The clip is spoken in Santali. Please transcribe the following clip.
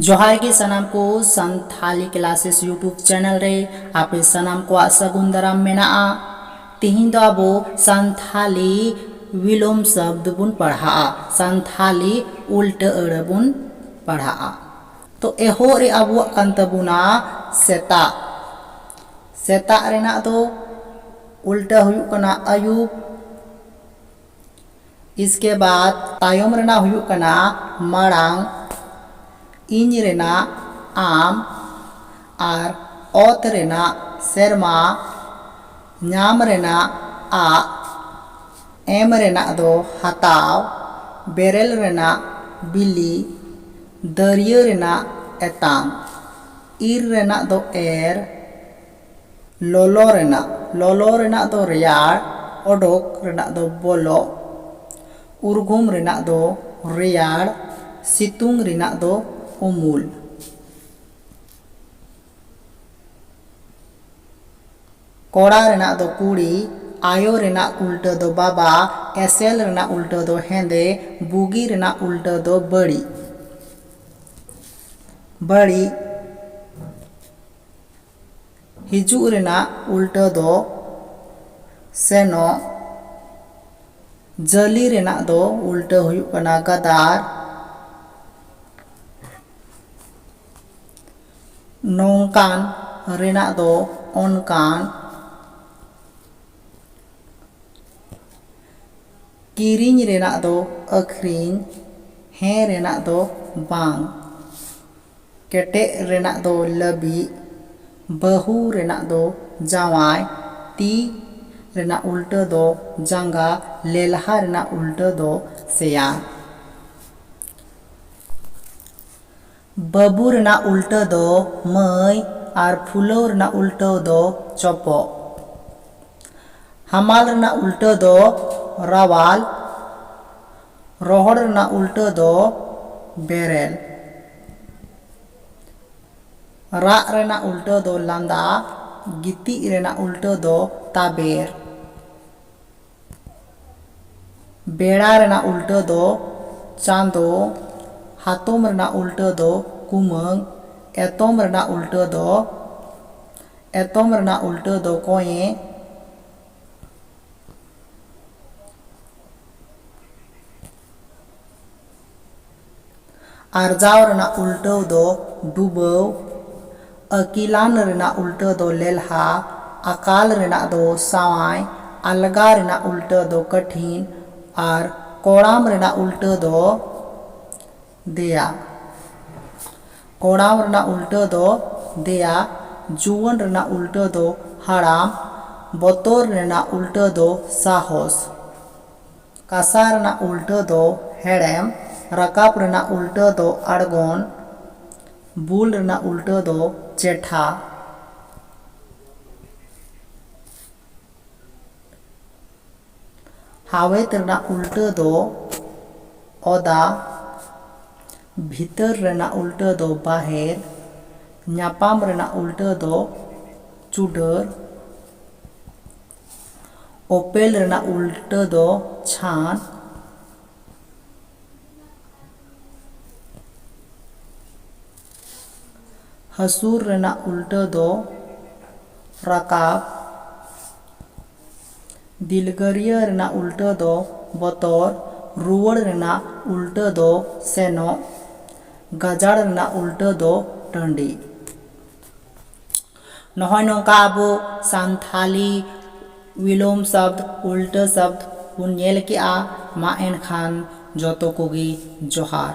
ᱡᱚᱦᱟᱨ ᱜᱮ ᱥᱟᱱᱟᱢ ᱠᱚ ᱥᱟᱱᱛᱷᱟᱞᱤ ᱠᱞᱟᱥᱮᱥ ᱭᱩᱴᱩᱵᱽ ᱪᱮᱱᱮᱞ ᱨᱮ ᱟᱯᱮ ᱥᱟᱱᱟᱢ ᱠᱚᱣᱟᱜ ᱥᱟᱹᱜᱩᱱ ᱫᱟᱨᱟᱢ ᱢᱮᱱᱟᱜᱼᱟ ᱛᱮᱦᱮᱧ ᱫᱚ ᱟᱵᱚ ᱥᱟᱱᱛᱷᱟᱞᱤ ᱵᱤᱞᱚᱢ ᱥᱚᱵᱽᱫᱚ ᱵᱚᱱ ᱯᱟᱲᱦᱟᱜᱼᱟ ᱥᱟᱱᱛᱷᱟᱞᱤ ᱩᱞᱴᱟᱹ ᱟᱹᱲᱟᱹ ᱵᱚᱱ ᱯᱟᱲᱦᱟᱜᱼᱟ ᱛᱚ ᱮᱦᱚᱵ ᱨᱮ ᱟᱵᱚᱣᱟᱜ ᱠᱟᱱ ᱛᱟᱵᱚᱱᱟ ᱥᱮᱛᱟᱜ ᱥᱮᱛᱟᱜ ᱨᱮᱱᱟᱜ ᱫᱚ ᱩᱞᱴᱟᱹ ᱦᱩᱭᱩᱜ ᱠᱟᱱᱟ ᱟᱹᱭᱩᱵ ᱤᱥᱠᱮ ᱵᱟᱫᱽ ᱛᱟᱭᱚᱢ ᱨᱮᱱᱟᱜ ᱦᱩᱭᱩᱜ ᱠᱟᱱᱟ ᱢᱟᱲᱟᱝ ᱤᱧ ᱨᱮᱱᱟᱜ ᱟᱢ ᱟᱨ ᱚᱛ ᱨᱮᱱᱟᱜ ᱥᱮᱨᱢᱟ ᱧᱟᱢ ᱨᱮᱱᱟᱜ ᱟᱜ ᱮᱢ ᱨᱮᱱᱟᱜ ᱫᱚ ᱦᱟᱛᱟᱣ ᱵᱮᱨᱮᱞ ᱨᱮᱱᱟᱜ ᱵᱤᱞᱤ ᱫᱟᱹᱨᱭᱟᱹ ᱨᱮᱱᱟᱜ ᱮᱛᱟᱝ ᱤᱨ ᱨᱮᱱᱟᱜ ᱫᱚ ᱮᱨ ᱞᱚᱞᱚ ᱨᱮᱱᱟᱜ ᱞᱚᱞᱚ ᱨᱮᱱᱟᱜ ᱫᱚ ᱨᱮᱭᱟᱲ, ᱚᱰᱚᱠ ᱨᱮᱱᱟᱜ ᱫᱚ ᱵᱚᱞᱚᱜ, ᱩᱨᱜᱩᱢ ᱨᱮᱱᱟᱜ ᱫᱚ ᱨᱮᱭᱟᱲ, ᱥᱤᱛᱩᱝ ᱨᱮᱱᱟᱜ ᱫᱚ ᱩᱢᱩᱞ᱾ ᱠᱚᱲᱟ ᱨᱮᱱᱟᱜ ᱫᱚ ᱠᱩᱲᱤ, ᱟᱭᱳ ᱨᱮᱱᱟᱜ ᱩᱞᱴᱟᱹ ᱫᱚ ᱵᱟᱵᱟ, ᱮᱥᱮᱞ ᱨᱮᱱᱟᱜ ᱩᱞᱴᱟᱹ ᱫᱚ ᱦᱮᱸᱫᱮ, ᱵᱩᱜᱤ ᱨᱮᱱᱟᱜ ᱩᱞᱴᱟᱹ ᱫᱚ ᱵᱟᱹᱲᱤᱡ᱾ ᱵᱟᱹᱲᱤᱡ᱾ ᱦᱤᱡᱩᱜ ᱨᱮᱱᱟᱜ ᱩᱞᱴᱟᱹ ᱫᱚ ᱥᱮᱱᱚᱜ᱾ ᱡᱟᱹᱞᱤ ᱨᱮᱱᱟᱜ ᱫᱚ ᱩᱞᱴᱟᱹ ᱦᱩᱭᱩᱜ ᱠᱟᱱᱟ ᱜᱟᱫᱟᱨ᱾ ᱱᱚᱝᱠᱟᱱ ᱨᱮᱱᱟᱜ ᱫᱚ ᱚᱱᱠᱟᱱ᱾ ᱠᱤᱨᱤᱧ ᱨᱮᱱᱟᱜ ᱫᱚ ᱟᱹᱠᱷᱨᱤᱧ᱾ ᱦᱮᱸ ᱨᱮᱱᱟᱜ ᱫᱚ ᱵᱟᱝ᱾ ᱠᱮᱴᱮᱡ ᱨᱮᱱᱟᱜ ᱫᱚ ᱞᱟᱹᱵᱤᱫ, ᱵᱟᱹᱦᱩ ᱨᱮᱱᱟᱜ ᱫᱚ ᱡᱟᱶᱟᱭ, ᱛᱤ ᱨᱮᱱᱟᱜ ᱩᱞᱴᱟᱹ ᱫᱚ ᱡᱟᱸᱜᱟ, ᱞᱮᱞᱦᱟ ᱨᱮᱱᱟᱜ ᱩᱞᱴᱟᱹ ᱫᱚ ᱥᱮᱭᱟᱱ᱾ ᱵᱟᱹᱵᱩ ᱨᱮᱱᱟᱜ ᱩᱞᱴᱟᱹ ᱫᱚ ᱢᱟᱹᱭ ᱟᱨ ᱯᱷᱩᱞᱟᱹᱣ ᱨᱮᱱᱟᱜ ᱩᱞᱴᱟᱹ ᱫᱚ ᱪᱚᱯᱚᱜ᱾ ᱦᱟᱢᱟᱞ ᱨᱮᱱᱟᱜ ᱩᱞᱴᱟᱹ ᱫᱚ ᱨᱟᱣᱟᱞ᱾ ᱨᱚᱦᱚᱲ ᱨᱮᱱᱟᱜ ᱩᱞᱴᱟᱹ ᱫᱚ ᱵᱮᱨᱮᱞ᱾ ᱨᱟᱜ ᱨᱮᱱᱟᱜ ᱩᱞᱴᱟᱹ ᱫᱚ ᱞᱟᱸᱫᱟ᱾ ᱜᱤᱛᱤᱡ ᱨᱮᱱᱟᱜ ᱩᱞᱴᱟᱹ ᱫᱚ ᱛᱟᱵᱮᱨ᱾ ᱵᱮᱲᱟ ᱨᱮᱱᱟᱜ ᱩᱞᱴᱟᱹ ᱫᱚ ᱪᱟᱸᱫᱚ᱾ ᱦᱟᱛᱚᱢ ᱨᱮᱱᱟᱜ ᱩᱞᱴᱟᱹ ᱫᱚ ᱠᱩᱢᱟᱹᱝ᱾ ᱮᱛᱚᱢ ᱨᱮᱱᱟᱜ ᱩᱞᱴᱟᱹ ᱫᱚ ᱮᱛᱚᱢ ᱨᱮᱱᱟᱜ ᱩᱞᱴᱟᱹ ᱫᱚ ᱠᱚᱸᱭᱮ᱾ ᱟᱨᱡᱟᱣ ᱨᱮᱱᱟᱜ ᱩᱞᱴᱟᱹᱣ ᱫᱚ ᱰᱩᱵᱟᱹᱣ, ᱟᱹᱠᱤᱞᱟᱱ ᱨᱮᱱᱟᱜ ᱩᱞᱴᱟᱹ ᱫᱚ ᱞᱮᱞᱦᱟ, ᱟᱠᱟᱞ ᱨᱮᱱᱟᱜ ᱫᱚ ᱥᱟᱶᱟᱭ, ᱟᱞᱜᱟ ᱨᱮᱱᱟᱜ ᱩᱞᱴᱟᱹ ᱫᱚ ᱠᱟᱴᱷᱤᱱ ᱟᱨ ᱠᱚᱲᱟᱢ ᱨᱮᱱᱟᱜ ᱩᱞᱴᱟᱹ ᱫᱚ ᱫᱮᱭᱟ ᱠᱚᱲᱟᱢ ᱨᱮᱱᱟᱜ ᱩᱞᱴᱟᱹ ᱫᱚ ᱫᱮᱭᱟ ᱡᱩᱣᱟᱹᱱ ᱨᱮᱱᱟᱜ ᱩᱞᱴᱟᱹ ᱫᱚ ᱦᱟᱲᱟᱢ ᱵᱚᱛᱚᱨ ᱨᱮᱱᱟᱜ ᱩᱞᱴᱟᱹ ᱫᱚ ᱥᱟᱦᱚᱥ ᱠᱟᱥᱟ ᱨᱮᱱᱟᱜ ᱩᱞᱴᱟᱹ ᱫᱚ ᱦᱮᱲᱮᱢ ᱨᱟᱠᱟᱵ ᱨᱮᱱᱟᱜ ᱩᱞᱴᱟᱹ ᱫᱚ ᱟᱬᱜᱚᱱ ᱵᱩᱞ ᱨᱮᱱᱟᱜ ᱩᱞᱴᱟᱹ ᱫᱚ ᱪᱮᱴᱷᱟ ᱦᱟᱣᱮᱛ ᱨᱮᱱᱟᱜ ᱩᱞᱴᱟᱹ ᱫᱚ ᱚᱫᱟ, ᱵᱷᱤᱛᱟᱹᱨ ᱨᱮᱱᱟᱜ ᱩᱞᱴᱟᱹ ᱫᱚ ᱵᱟᱦᱮᱨ, ᱧᱟᱯᱟᱢ ᱨᱮᱱᱟᱜ ᱩᱞᱴᱟᱹ ᱫᱚ ᱪᱩᱰᱟᱹᱨ, ᱚᱯᱮᱞ ᱨᱮᱱᱟᱜ ᱩᱞᱴᱟᱹ ᱫᱚ ᱪᱷᱟᱱ, ᱦᱟᱹᱥᱩᱨ ᱨᱮᱱᱟᱜ ᱩᱞᱴᱟᱹ ᱫᱚ ᱨᱟᱠᱟᱵ, ᱫᱤᱞᱜᱟᱹᱨᱤᱭᱟᱹ ᱨᱮᱱᱟᱜ ᱩᱞᱴᱟᱹ ᱫᱚ ᱵᱚᱛᱚᱨ, ᱨᱩᱣᱟᱹᱲ ᱨᱮᱱᱟᱜ ᱩᱞᱴᱟᱹ ᱫᱚ ᱥᱮᱱᱚᱜ, ᱜᱟᱡᱟᱲ ᱨᱮᱱᱟᱜ ᱩᱞᱴᱟᱹ ᱫᱚ ᱴᱟᱺᱰᱤ᱾ ᱱᱚᱜᱼᱚᱭ ᱱᱚᱝᱠᱟ ᱟᱵᱚ ᱥᱟᱱᱛᱷᱟᱞᱤ ᱣᱤᱞᱳᱢ ᱥᱟᱵᱽᱫᱽ, ᱩᱞᱴᱟᱹ ᱥᱟᱵᱽᱫᱽ, ᱵᱚᱱ ᱧᱮᱞ ᱠᱮᱫᱼᱟ᱾ ᱢᱟ ᱮᱱᱠᱷᱟᱱ ᱡᱚᱛᱚ ᱠᱚᱜᱮ ᱡᱚᱦᱟᱨ᱾